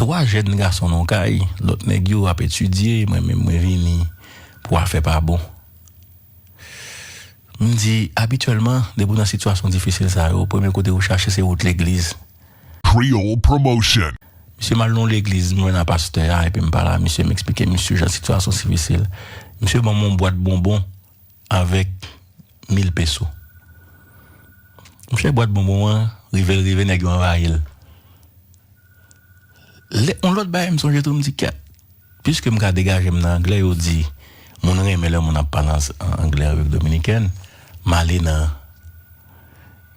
3 jèn gason nan yon kay, lòt nèg yo ap etidye, mwen menm mwen vini pou afè pa bon. M di, abityèlman, depi w nan sitiyasyon difisil sa yo, premye kote ou chache se wout legliz. Misye m al nan yon legliz, m jwenn a pastè a epi m pale a misye, m esplike misye jan sitiyasyon difisil. Misye ban m yon bwat bonbon. avèk mil peso. Monchè bwat bonbon an rive l rive nèg yo anvayi l. Lè yon lòt bagay m sonje tou m di kèt piske m ka degaje m nan anglè yo di moun renmen lè moun ap pale an anglè Repiblik Dominikèn m ale nan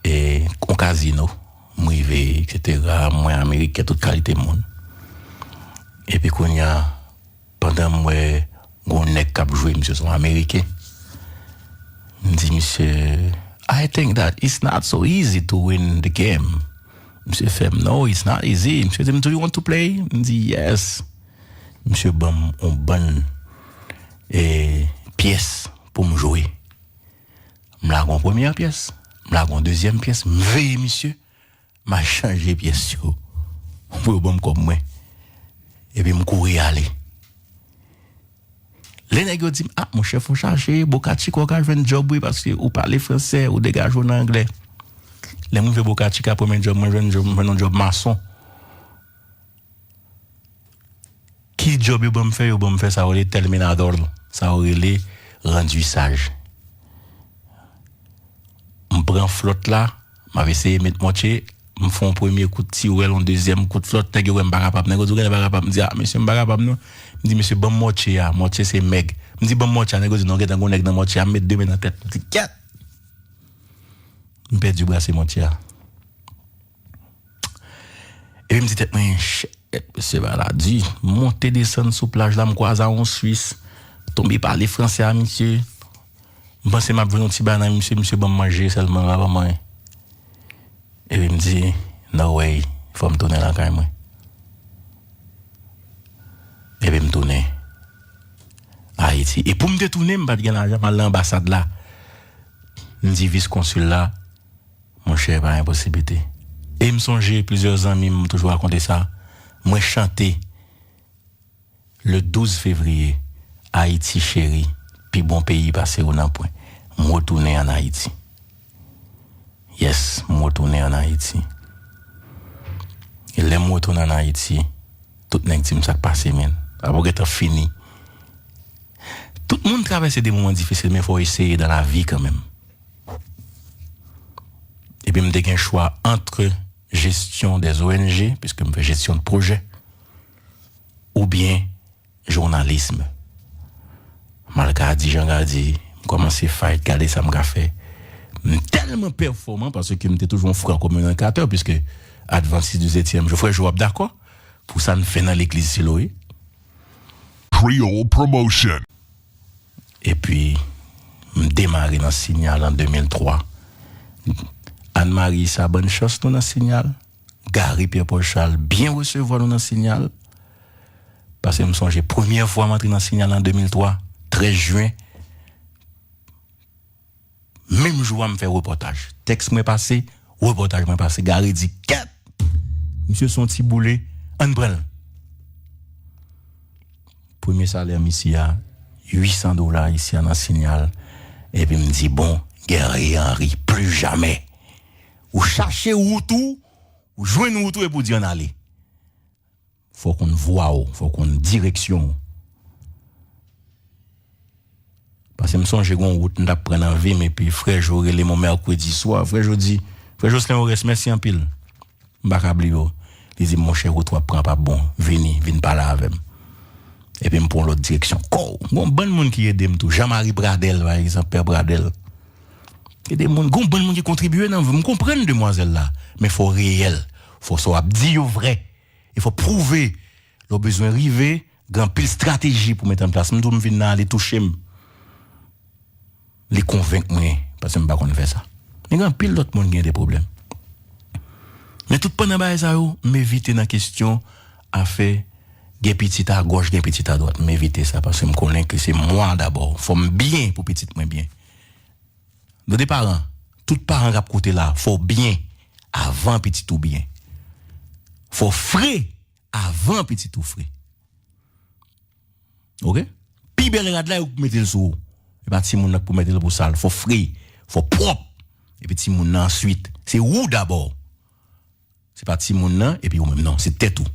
yon kazino m rive eksetera m wè ameriken tout kalite moun epi kounya Pandan m wè gon nèg kap jwe misye son ameriken m di misye I think that it's not so easy to win the game misye fèm no it's not easy misye dim do you want to play m di yes misye banm on bann pyès poum jwe m lage on premyè pyès m lage on dezyèm pyès m veye misye. M a chanje pyès yo pou yo ban m kòb mwen epi m kouri ale. Lè nèg yo di m, a monchè fò w chache Boca Chica w ka jwenn djòb wi paske ou pale fransè, ou degaje w nan anglè. Lè m rive Boca Chica premye djòb mwen jwenn, m jwenn yon djòb mason. Ki djòb yo ban m fè? Yo ban m fè sa yo rele tèlminadòl, sa yo rele randisaj. M pran flòt la, m ap eseye met mòtye, m fè yon premye kout tiwèl, yon dezyèm kout flòt, nèg yo wè m pa kapab. Nèg yo di ou genlè pa kapab. M di a mesye m pa kapab non. M di mesye ban m mòtye a, mòtye se mèg. M di ban m mòtye a, nèg yo di non gentan gen yon nèg nan mòtye a. M met de men nan tèt, m di kèt! M pèdi brase mòtye a. Epi m di tèt mwen, shit, mesye bagay la di. M monte desann sou plaj la, m kwaze a yon Swis, tonbe pale franse a misye. M panse m ap jwenn yon ti bagay nan men misye, misye ban m manje sèlman l pa ban m anyen. Epi m di, no way, fò m tounen lakay mwen. Epi m tounen Ayiti. E pou m te tounen, m pa t gen lajan pou m al nan anbasad la. M di vis konsil la. Monchè e pa yon posiblite. E m sonje plizyè zanmi m toujou rakonte sa, mwen chante le 12 fevriye Ayiti cheri, pi bon peyi pase ou nanpwen. M retounen an Ayiti. Yes, m retounen an Ayiti. E lè m retounen an Ayiti, tout nèg di m sa k pase men. Sa pou gentan fini. Tout moun travèse de moman difisil men fò w eseye dan lavi kanmenm. Epi m te gen chwa antre jesyon dè ONG, piske m fè jesyon pwojè, oubyen jounalism. Malka di jan ka di, m kòmanse fayt gade sa m ka fè. M tèlman pèfòman, paske m te toujou yon fran kominikatè, piske advantis di setyèm jou, frè jou ap dakò, pou sa n fè nan legliz Siloe. Creole Promotion. epi m demare nan Signal an 2003. Anne Marie sa bann chans nou nan Signal, Garry Pierre Paul Charles byen resevwa nou nan Signal, pase m sonje premyè fwa m antre nan Signal an 2003, 13 juin. Menm jou a m fè repòtaj. Tèks mwen pase, repòtaj mwen pase. Gary di, Kèt! Misye se yon ti boule, ann pran l! Premye salè misye a, 800 dola ayisyen nan Signal. Epi m di, Bon, Guerrier Henry, plu jamè! Ou chache wout ou, ou jwenn wout ou epi ou di ann ale. Fò w konn vwa w, fò w konn direksyon w. Pase m sonje gon wout m tap pran nan vi m epi frè Jo rele m on mèkredi swa, frè Jo di, frè Joslin Orès mèsi anpil, m pa ka bliye w. Li di m monchè wout w ap pran an pap bon, vini, vin pale avè m. Epi m pran yon lòt direksyon. Kòw! Gon bann moun ki ede m tou, Jan Mari Pradèl pa egzanp, Pè Pradèl. Ede moun, gon bann moun ki kontribye nan vi w. M konprann demwazèl la, men fò w reyèl, fò sa w ap di yo vrè. E fò pwouve lè w bezwen rive, gen anpil strateji pou met an plas. M di w m vin nan li touche m, li konvenk mwen paske m pa konn fè sa. Men gen anpil lòt moun ki gen de pwoblèm. Men toutpandan bagay sa yo, m evite nan kesyon afè gen pitit agòch, gen pitit adwat. M evite sa paske m konnen ke se mwa dabò. Fò m byen pou pitit mwen byen. Nou de paran, tout paran kap koute la fò w byen avan pitit ou byen. Fò w fre avan pitit ou fre. Ok, pi bèl rad la ou k mete l sou ou. E pa timoun nan k pou mete l pou sal. Fò w fre, fò w pwòp. Epi timoun nan answit. Se ou dabò. Se pa timoun nan epi ou menm non, se tèt ou.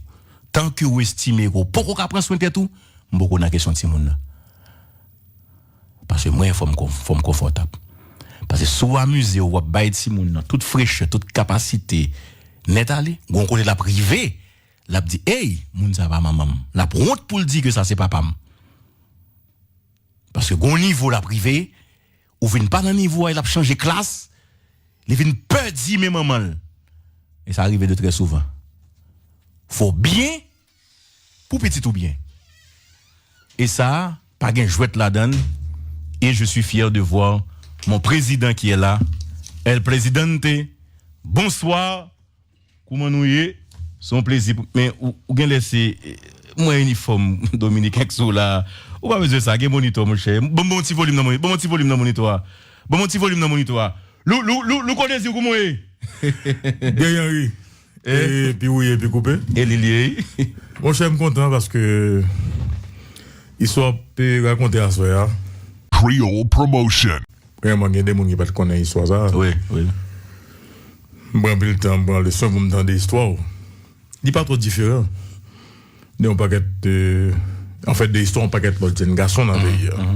Tan ke ou estime ke ou poko ka pran swen tèt ou, m poko nan kesyon timoun nan. Paske mwen fò m fò m konfòtab. Paske si w amize w, w ap bay timoun nan tout frechè, tout kapasite nèt ale, gon kote l ap rive, l ap di ey, moun sa pa manman m. L ap wont pou l di ke sa se papa m. Paske gon nivo l ap rive, Ou vin pa nan nivo a e lap chanje klas, li vin pè di men manman l. E sa rive de trè souvan. Fò byen pou pitit ou byen. E sa pa gen jwèt ladan l e je suis fier de voir mon prezidan ki è la, El Presidente, Bonsoir Kouman nou ye? Se yon plezi pou men ou genlè se mwen inifòm dominiken k sou w la a. Ou pa bezwen sa, gen monitò mon chè. Ban mwen yon ti volim nan monitò, ban mwen yon ti volim nan monitò a. Ban mwen yon ti volim nan monitò a. Lou, Lou, Lou, Louko Désir kouman w ye? Guy Henry, ee pi wouye pi koupe. E li l ye wi. Mon chè m kontan paske istwa w ap rakonte aswè a. Creole Promotion. Premyèman gen de moun ki pa t konnen istwa sa a. Wi, wi. M pran anpil tan, m pran leson pou m tande istwa w. Li pa twò diferan de yon pakèt, anfèt de istwa yon pakèt lòt jenn gason nan peyi a.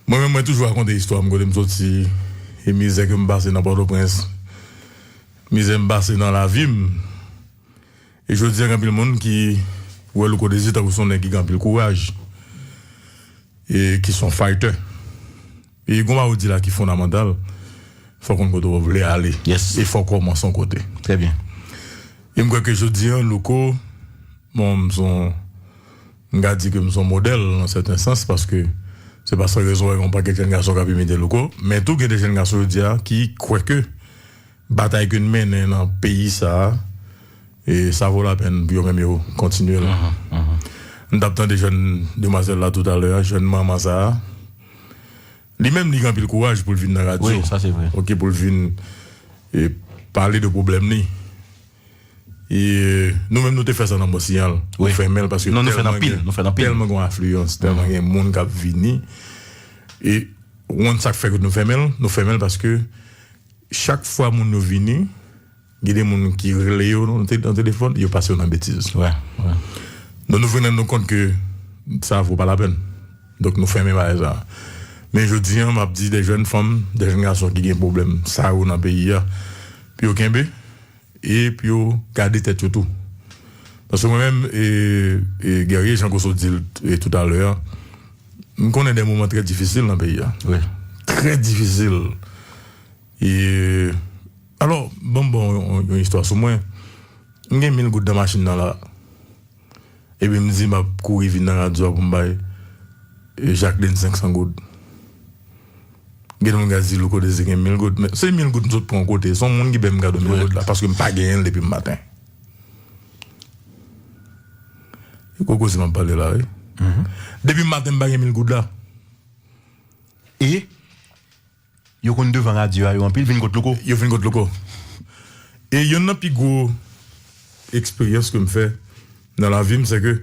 Mwen menm mwen toujou rakonte istwa m, kote m soti e mizè ke m pase nan Pòtoprens, mizè m pase nan lavi m. E jodi a gen anpil moun ki wè Louko Désir tankou se yon nèg ki gen anpil kouraj e ki se yon faytè. E konba ou di la ki fondamantal, fò w konn kote w vle ale. Yes. E fò w kòmanse yon kote. Trè byen. E m kwè ke jodi an Louko, bon m son, m ka di ke m son modèl nan sèten sans paske se pa san rezon w wè gen yon pakèt jèn gason k ap imite Louko. Men tou gen de jèn gason jodi a ki kwè ke. Batay ke n mennen nan peyi sa a, e sa vo lapèn pou yo menm yo kontinye l. M t ap tande jèn demwazèl la toutalè a, jèn manman sa a. Li menm li gen anpil kouraj pou l vin nan radyo, ok, pou l vin pale de pwoblèm li. E nou menm nou te fè sa nan Monsiyal, nou fèmen l paske tèlman gen afliyans, tèlman gen moun k ap vini. E ou konn sa k fè ke nou fèmen l? Nou fèmen l paske. Chak fwa moun yo vini, gen de moun ki rele yo nan telefòn, yo pase yo nan betiz. Donk nou vin rann nou kont ke sa vo pa lapèn. Donk nou fèmen bagay sa a. Men jodi an, m ap di de jèn fanm, de jèn gason ki gen pwoblèm sa yo nan peyi a, pou yo kenbe. E p yo gade tèt yo tou. Paske mwen menm, e Guerrier, jan Goso di l toutalè a, m konnen de moman trè difisil nan peyi a. Wi. Trè difisil. E Alò, ban m ba w yon istwa sou mwen. M gen mil goud nan machin nan la a. Epi m di m ap kouri vin nan radyo a pou m bay Jacqueline 500 goud. Gen moun k a di Louko Desir gen 1000 goud, men se 1000 goud m sot pran yon kote, se yon moun ki bay m kado 1000 goud la paske m pa genyen l depi m maten. Se gwo koze m ap pale la wi. Depi m maten m pa gen 1000 goud la. E? Yo konn devan radyo a yo anpil vin kot louko. Yo vin kot louko. E yonn nan pi gwo eksperyans ke m fè nan lavi m se ke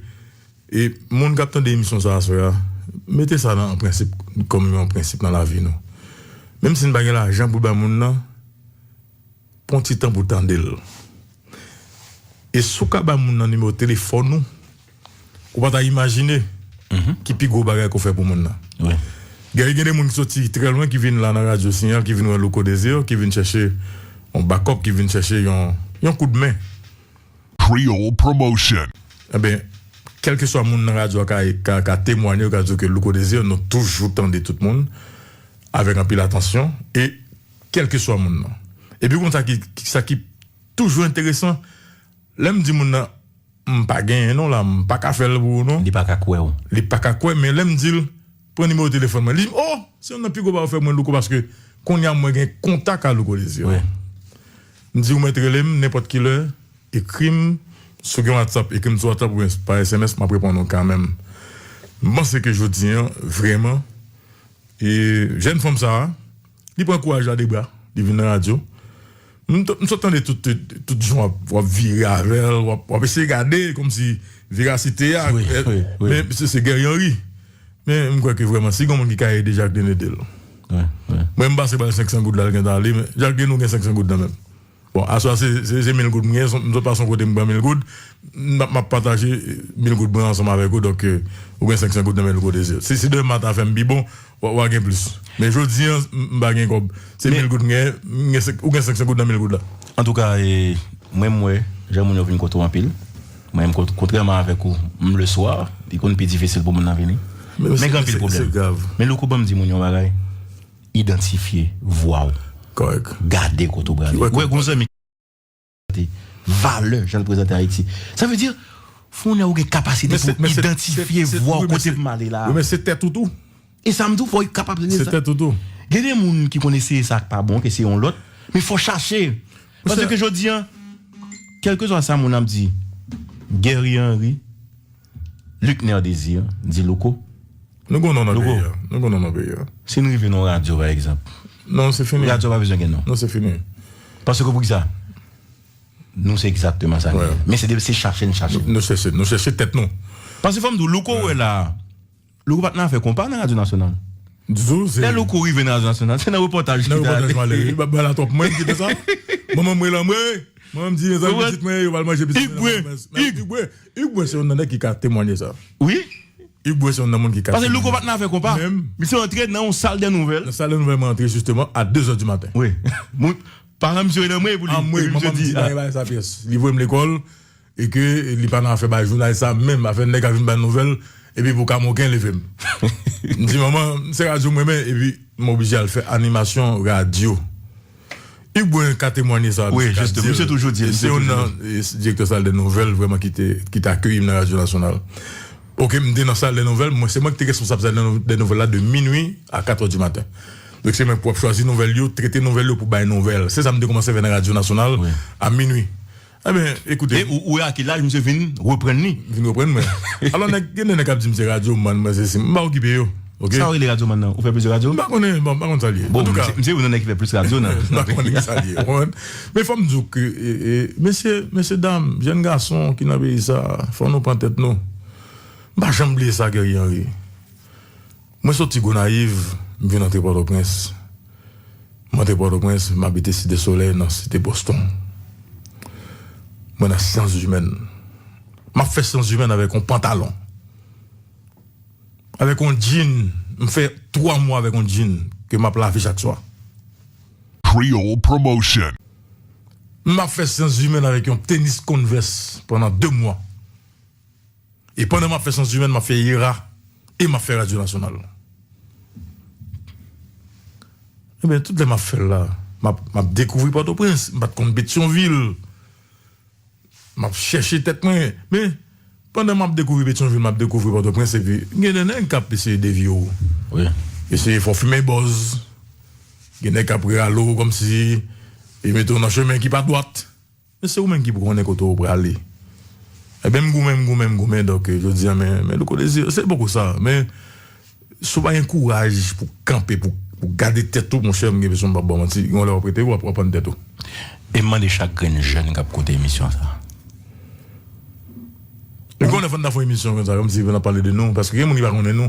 e moun k ap tande emisyon sa aswè a mete sa nan prensip kòm yon prensip nan lavi nou. Menm si n pa gen lajan pou bay moun nan pran ti tan pou tande l. E si w ka bay moun nan nimewo telefòn ou. Ou pa ta imajine ki pi gwo bagay ke w fè pou moun nan. Gary, gen de moun ki soti trè lwen ki vin la nan radyo Siyal, ki vin wè Louko Desir, ki vin chèche yon bakòp, ki vin chèche yon kout men. Creole Promotion. Enben, kèlkeswa moun nan radyo a ka temwanye, yo ka di w ke Louko Desir, nou toujou tande tout moun avèk anpil atansyon e kèlkeswa moun nan. Epi w konn sa ki toujou enteresan? Lè m di moun nan. M pa genyen non la m paka fèl pou ou non. Li paka kwè w. Li paka kwè men lèm dil pran nimewo telefòn mwen li dim oh se yon nan pi gwo bagay ou fè mwen Louko paske konnya mwen gen kontak a Louko Désir wi m di ou mèt relem nenpòt kilè ekrim sou gen whatsapp ekrim sou whatsapp oubyen pa sms map reponn ou kanmenm m panse ke jodi an vrèman e jèn fanm sa. Li pran kouraj la de bra, li vin nan radyo. M sot tande tout jan w ap vire avè l, w ap eseye gade kòmsi verasite a. Men misye se Guerrier Henry. Men m kwè ke vrèman si gen yon moun ki ka ede Jacqueline ede l. Mwen m pase ba l 500 goud la l gentan ale men Jacqueline ou gen 500 goud nan men w. Bon aswè a se mil goud m gen, m sot pase yon kote m pran mil goud, m ap pataje mil goud mwen ansanm avèk ou donk ou gen 500 goud nan men louko dezir. Si deman ta fè m pi bon wa gen plis men jodi an m pa gen kòb se mil goud m gen ou gen 500 goud nan mil goud la. Antouka mwen m wè jan moun yo vin kote w anpil men kontrèman avèk ou m le swa li konn pi difisil pou moun nan vini men gen anpil pwoblèm men louko banm di moun yon bagay. Idantifye vwa w. Kòrèk. Gade kote w prale. Ou wè gon zanmi ki prezante valè jan l prezante Ayiti. Sa vle di, fon lè ou gen kapasite pou w idantifye vwa w kote pou m ale la a. Wi men se tèt ou tou. E sa m di w fò w kapab rele sa. Se tèt ou tou. Gen de moun ki konn eseye sa k pa bon, k eseye yon lòt, men fò w chache. Paske jodi an, kèlkeswa sa moun ap di, Guerrier Henry. Luckner Désir, di Louko. Nou gen w non nan peyi a. Louko, nou gen w non nan peyi a. Si n rive nan yon radyo pa egzanp. Non, se fini. Radyo a pa bezwen gen non. Non, se fini. Paske pou ki sa? Nou se egzakteman sa nou ye. Men se de se chache n chache. Nou chèche, nou chèche tèt nou. Paske fò m di w, Louko ou wè la a. Louko pat nan afè konpa nan radyo nasyonal. Lè louko rive nan radyo nasyonal se nan repòtaj li ta ale. Pase louko pat nan afè konpa. Misye antre nan yon sal dè nouvèl. Paran misye rele anmwey pou li. E ke li pa nan afè bay jounalis sa menm, afè nèg kap vin bay nouvèl epi pou kamoken leve m. M di manman, se radyo m renmen epi m oblije al fè animasyon radyo. Hugues Brun ka temwanye sa, misye ka di l. Se youn nan direktè sal dè nouvèl vrèman ki te akeyi m nan radyo nasyonal. Ok, m te nan sal dè nouvèl, mwen se mwen ki te responsab sal dè nouvèl la de minui a katrè di maten. Donk se mwen pou ap chwazi nouvèl yo, trete nouvèl yo pou bay nouvèl. Se sa m te koumanse fè nan radyo nasyonal a minui. E ou wè a ki laj misye vin reprann li. Vin reprann mwen. Alò nèg, gen de nèg k ap di m se radyoman, mwen se si. M pa okipe yo. Ok. Sa ou rele radyoman nan? Ou fè plizyè radyo? M pa konnen. Bon, m pa konn sa l ye. Bon, misye se youn nan nèg ki fè plis radyo nan. M pa konnen ki sa l ye. Ou konprann? Men fò m di w ke mesye, mesye dam, jenn gason ki nan peyi sa a, fò nou pran tèt nou. M pa janm bliye sa Guerrier Henry. Mwen soti Gonayiv, m vin antre Pòtoprens. M antre Pòtoprens, m abite Site Solèy nan Site Boston. Mwen nan Syanzimèn. M ap fè Syanzimèn avèk yon pantalon, avèk yon djin. M fè twa mwa avèk yon djin ke m ap lave chak swa. Creole Promotion. M ap fè Syanzimèn avèk yon tenis Converse pandan de mwa. E pandan m ap fè Sans Humaines, m ap fè IRA e m ap fè Radyo Nasyonal. Enben, tout lè m ap fè l la, m ap m ap dekouvri Pòtoprens. M pa t konn Petyonvil. M ap chèche tèt mwen. Men, pandan m ap dekouvri Petyonvil, m ap dekouvri Pòtoprens epi gen de nèg k ap eseye devye w. Eseye fè w fimen bòz. Gen nèg k ap rale w kòmsi yo mete w nan chemen ki pa dwat. Men se ou menm ki pou konnen kote ou prale. Ebyen m goumen m goumen m goumen donk jodi an men men Louko Désir se poko sa men si w pa gen kouraj pou w kanpe pou w gade tèt ou monchè m gen enpresyon m pap ba w manti gen yon lè w ap rete w ap anprann tèt ou. E m mande chak grenn jèn k ap koute emisyon sa. Gen yon lè fò n ta fon emisyon konsa kòmsi pou n ap pale de nou paske gen moun ki pa konnen nou.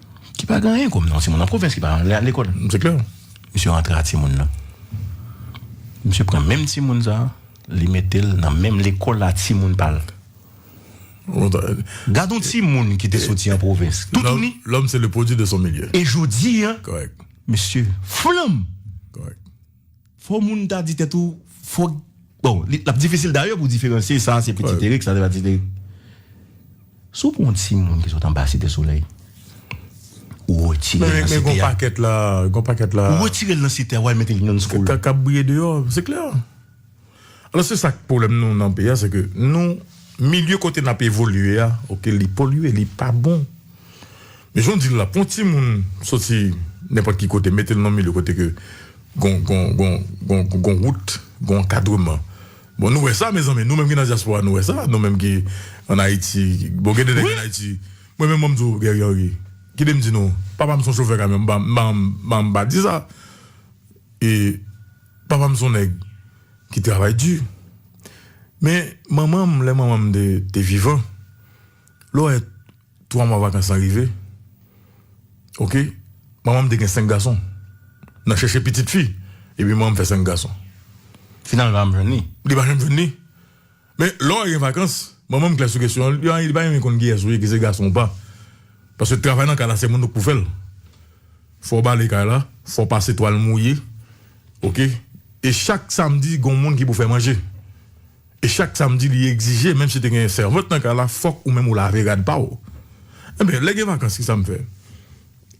Ki pa gen anyen kòm nan. Yon timoun nan pwovens ki pa ale al lekòl. Se klè. Misye rantre a timoun nan. Misye pran menm timoun sa a, li mete l nan menm lekòl a timoun pa l. Gad yon timoun ki te soti an pwovens. Toutouni. Lòm se le pwodui de son milye. E jodi a. Kòrèk. Misye flanm. Kòrèk. Fo moun ta di tèt ou fo bon lap difisil dayè pou diferansye sa se pitit Erik sa se pa pitit Erik si w pran yon ti moun ki sot anba site solèy ou retire l nan site a gon pakèt la gon pakèt la ou retire l nan site a wal mete l nan yon ti kol kap briye deyò se klè. Alos se sak pwoblèm nou nan peyi a se ke nou milye kote nap evolye a ok li polye li pa bon men jan w di l la pou yon timoun soti nenpòt ki kote mete l nan yon milye kote ke gon gon gon gon gon wout gon ankadreman bon nou wè sa mezanmi nou menm ki nan dyaspora nou wè sa nou menm ki an ayiti bon gen de nèg an ayiti mwen menm banm di w Guerrier Henry kite m di nou papa m son chofè kamyon m pa m pa di sa e. Papa m son nèg ki travay di. Men manman m lè manman m te vivan lè w wè 3 mwa vakans lan rive ok manman m te gen 5 gason nan chèche pitit fi epi manman m fè 5 gason. Finalman pa janm jwenn li. Li pa janm jwenn li. Men, lè w gen vakans, manman m klè sou kesyon an, li pa renmen konn kiyès ou ye, ki se gason ou pa. Paske travay nan kay la se moun nou k pou fè l. Fò w bale kay la, fò w pase twal mouye, oke. E chak samdi gen yon moun ki pou fè manje. E chak samdi li egzije menm si te gen sèvant nan kay la, fòk ou menm ou lave rad pa w. Enben, lè gen vakans kisa m fè?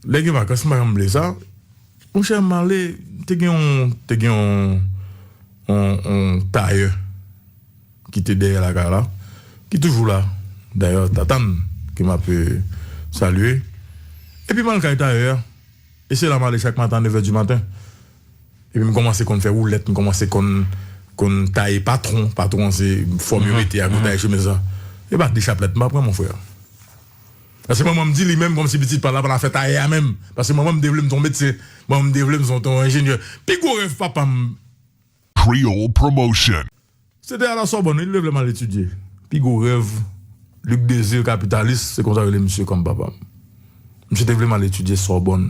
Lè gen vakans m pa janm vle sa. Monchè m ale te gen yon te gen yon yon tayè ki te dèyè lakay la ki toujou la dayè tata m ke m ap salye epi m al kay tayè a e se la m ale chak maten a nevè di maten epi m kòmanse konn fè woulèt m kòmanse konn konn taye patwon patwon an se fòm yo mete a pou taye chemiz lan e pa de chaplèt m pa pran monfrè. Paske manman m di li menm kòmsi pitit pa l ap al afè tayè a menm. Paske manman m te vle m ton medsen. Manman m te vle m son ton enjenyè. Pi gwo rèv papa m. Creole Promotion. Se te al a Sòbòn wi. Li te vle m al etidye. Pi gwo rèv Luc Désir kapitalis, se konsa yo rele misye kòm papa m. Misye te vle m al etidye Sòbòn.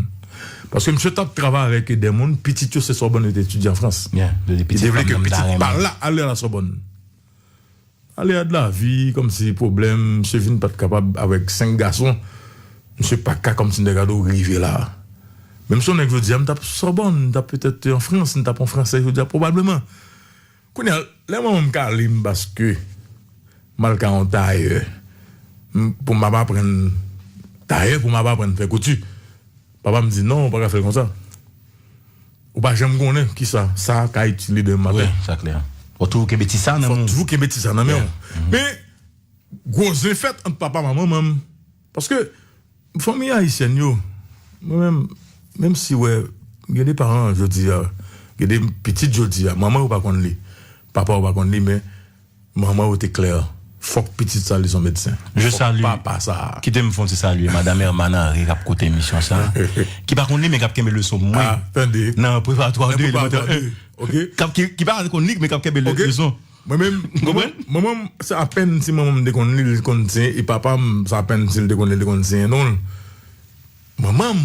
Paske misye t ap travay avèk dè moun pitit yo se Sòbòn yo te etidye an Frans. Li te vle ke pitit pa l la al a la Sòbòn. Alea de la vie kòmsi pwoblèm misye vin pat kapab avèk 5 gason misye paka kòmsi nèg a do rive la menm son nèg jodia m tap Sorbonne m tap petèt an Frans m tap an fransè jodia pwobableman kounya lè manman m kale m paske mal ka yon tayè m poum ap aprann tayè poum ap aprann fè kouti papa m di non ou paka fèl konsa. Ou pa janm konnen kisa sa ka itile demen maten. Wi, sa klè. Fò toujou kenbe ti sa nan men w. Fò toujou kenbe ti sa nan men w. Men, gwo zen fèt ant papa m ak manman m. Paske, fanmi ayisyèn yo, mwen menm, menm si wè, gen de paran jodi a, gen de pitit jodi a, manman yo pa konn li, papa yo pa konn li men. Manman yo te klè, fòk pitit sa li son medsen. Je salu, kite m fon ti salye madam Hermane Henry kap koute emisyon sa, ki pa konn li men kap kenbe leson mwen nan preparatwa 2 elemantè 1, ki pa konn li men kap kenbe leson. Mwen menm, manman m se apèn si manman m te konn li, li te konn siyen e papa m se apèn si li te konn li, li te konn siyen non l. Manman m.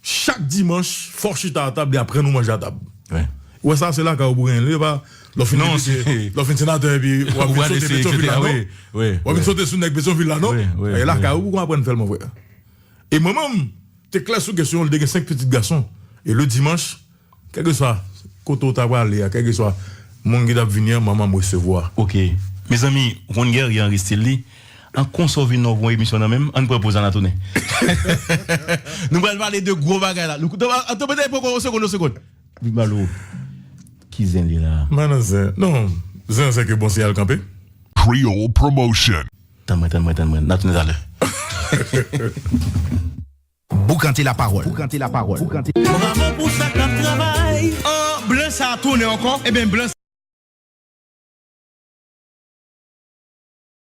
Chak dimanch fòk chita atab li aprann ou manje atab ou wè sa se lakay ou pou genyen li epa lè w fin depite lè w fin senatè epi wap vin sote petyonvil la non wap vin sote sou nèg petyonvil la non e lakay ou pou kon aprann fèl mon frè e manman m te klè sou kesyon li te gen 5 pitit gason e le dimanch Kèlkeswa kote ou ta prale a, kèlkeswa moun ki t ap vini an, manman m resevwa. Ok mezanmi ou konn Guerrier Henri stil li an konsa ou vin la ou pran emisyon nan menm ann pran poz la na tounen nou pral pale de gwo bagay la anto mete poko yon segond yon segond li pral ou ki zen li la. M pa nan zen non zen an se ke bon siyal kanpe. Creole Promotion. Tann mwen tann mwen tann mwen na tounen talè. Boukante la parole. Bravo pou sa kap travay. An blan sa tounen ankò ebyn blan sa.